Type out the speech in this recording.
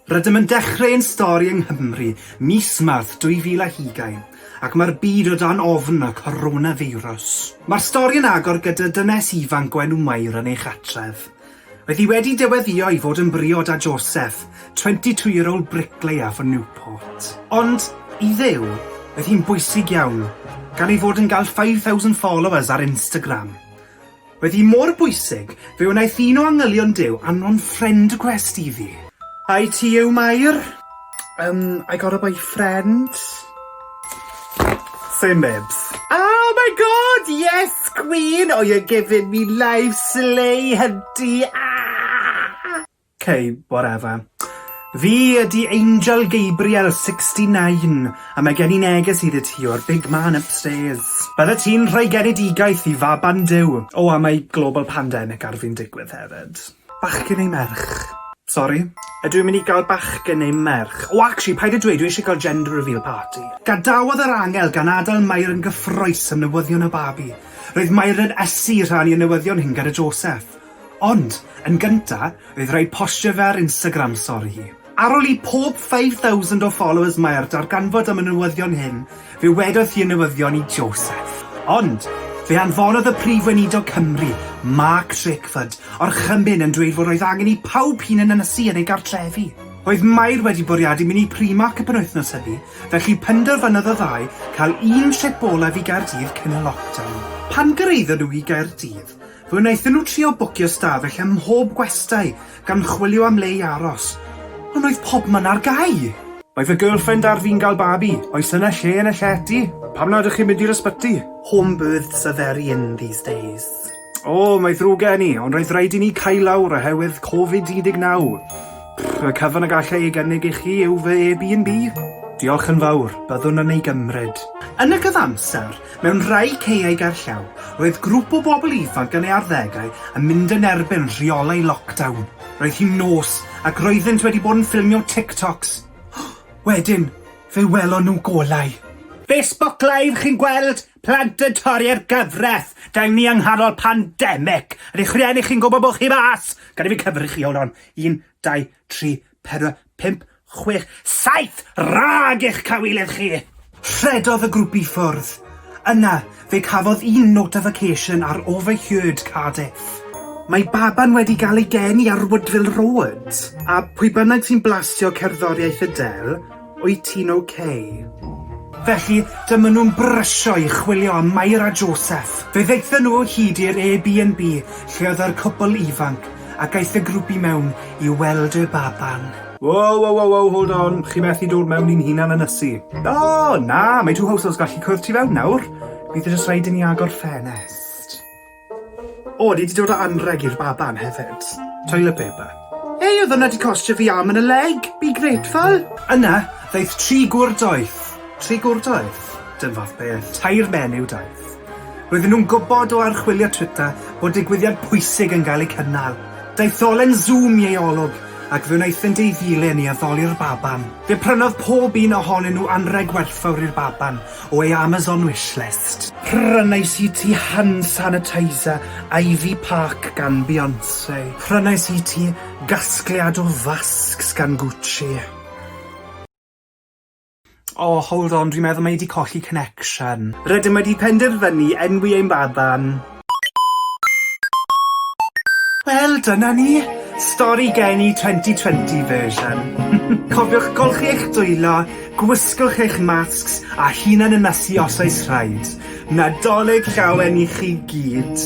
Rydym yn dechrau ein stori yng Nghymru, mis Mawrth 2020, ac mae'r byd o dan ofn y coronafeirws. Mae'r stori yn agor gyda dynes ifanc o enw Mair yn ei chartref. Oedd hi wedi dyweddïo i fod yn briod â Joseph, twenty two year old bricklayer for Newport. Ond, i Dduw, oedd hi'n bwysig iawn, gan ei fod yn gael five thousand followers ar Instagram. Oedd hi mor bwysig, fe wnaeth un o angylion Duw anfon friend request iddi. Ai ti yw Mair? Um, I got a boyfriend. Same babes. Oh my god, yes queen! Oh, you're giving me life, slay, hunty, ah! Okay, whatever. Fi ydi Angel Gabriel, 69, a mae gen i neges i ti o'r big man upstairs. Bydde ti'n rhoi genedigaeth i faban Duw. O, oh, a mae global pandemic ar fi'n digwydd hefyd. Bachgen neu merch? Sori? Ydw i'n mynd i gael bachgen neu merch? O actually, paid â dweud, dwi eisiau cael gender reveal party. Gadawodd yr angel gan adael Mair yn gyffrous am newyddion y babi. Roedd Mair yn ysu rhannu y newyddion hyn gyda Joseph. Ond, yn gynta, roedd rhaid postio fe ar Instagram sori hi. Ar ol i pob 5000 o followers mae'r darganfod am y newyddion hyn, fe wedodd hi y newyddion i Joseph. Ond, fe anfonodd y Prif Weinidog Cymru, Mark Drakeford, orchymyn yn dweud fod oedd angen i pawb hŷn yn ynysu yn eu cartrefi. Oedd Mair wedi bwriadu mynd i Primark y penwythnos hynny, felly penderfynodd y ddau cael un trip olaf i Gaerdydd cyn y lockdown. Pan gyrhaeddon nhw i Gaerdydd, Fe wnaethon nhw trio bwcio stafell ym mhob gwestai, gan chwilio am le i aros, ond oedd pobman ar gau! Mae fy girlfriend ar fin gael babi, oes yna lle yn y llety? Pam nad ych chi'n mynd i'r ysbyty? Home births are very in these days. O, mae ddrwg gen i, ond roedd raid i ni cau lawr oherwydd Covid 19! Pff, y cyfan y galla ei gynnig i chi yw fy Airbnb. Diolch yn fawr, byddwn yn ei gymryd. Yn y cyfamser, Mewn rhai caeau gerllaw, roedd grŵp o bobl ifanc yn ei arddegau yn mynd yn erbyn rheolau lockdown. Roedd hi'n nos ac roeddynt wedi bod yn ffilmio TikToks. Wedyn, fe welon nhw golau. Facebook Live chi'n gweld? Plant yn torri'r gyfraith! Dau ni yng nghanol pandemic! Ydy'ch rhieni chi'n gwybod bod chi mas? Gad i fi cyfri chi, hold on, un, dau, tri, Pedwar, pump, chwech, saith! Rhag eich cawilydd chi! Rhedodd y grwp i ffwrdd. Yna, fe cafodd un notification ar Overheard Cardiff. Mae baban wedi gael ei geni ar Woodville Road! A pwy bynnag sy'n blastio cerddoriaeth Adele, Wyt ti'n ok? Felly, dyma nhw'n brysio i chwilio am Mair a Joseph. Fe ddaethon nhw o hyd i'r Airbnb lle oedd yr cwpl ifanc, ac aeth y grwp i mewn i weld y baban. Wow, wow, wow, wow, hold on, chi methu dod mewn i'n hunan yn ysu. O, na, mae two households gallu cwrdd tu fewn nawr. Bydd e jyst rhaid i ni agor ffenest. O, ni 'di dod â anrheg i'r baban hefyd. Toilet paper. Hei, oedd hwnna 'di costio fi arm and a leg! Be grateful! Yna, ddaeth tri gŵr doeth. Tri gŵr doeth? Dim fath beth. Tair menyw doeth. Roedden nhw'n gwybod o archwilio Twitter bod digwyddiad pwysig yn cael ei cynnal. Daetholen Zoom i ei olwg, ac fe wnaethent ei ddilyn i addoli'r baban. Fe prynodd pob un ohonyn nhw anrheg werthfawr i'r baban, o ei Amazon wishlist. Prynais i ti hand sanitizer Ivy Park gan Beyonce. Prynais i ti gasgliad o fasgs gan Gucci. O, hold on, dwi'n meddwl mae hi 'di colli connection. Rydym wedi penderfynu enwi ein baban. Wel, dyna ni! Stori Geni 2020 version. Cofiwch golchi eich dwylo, gwisgwch eich masks a hunan ynysu os oes rhaid. Nadolig llawen i chi gyd!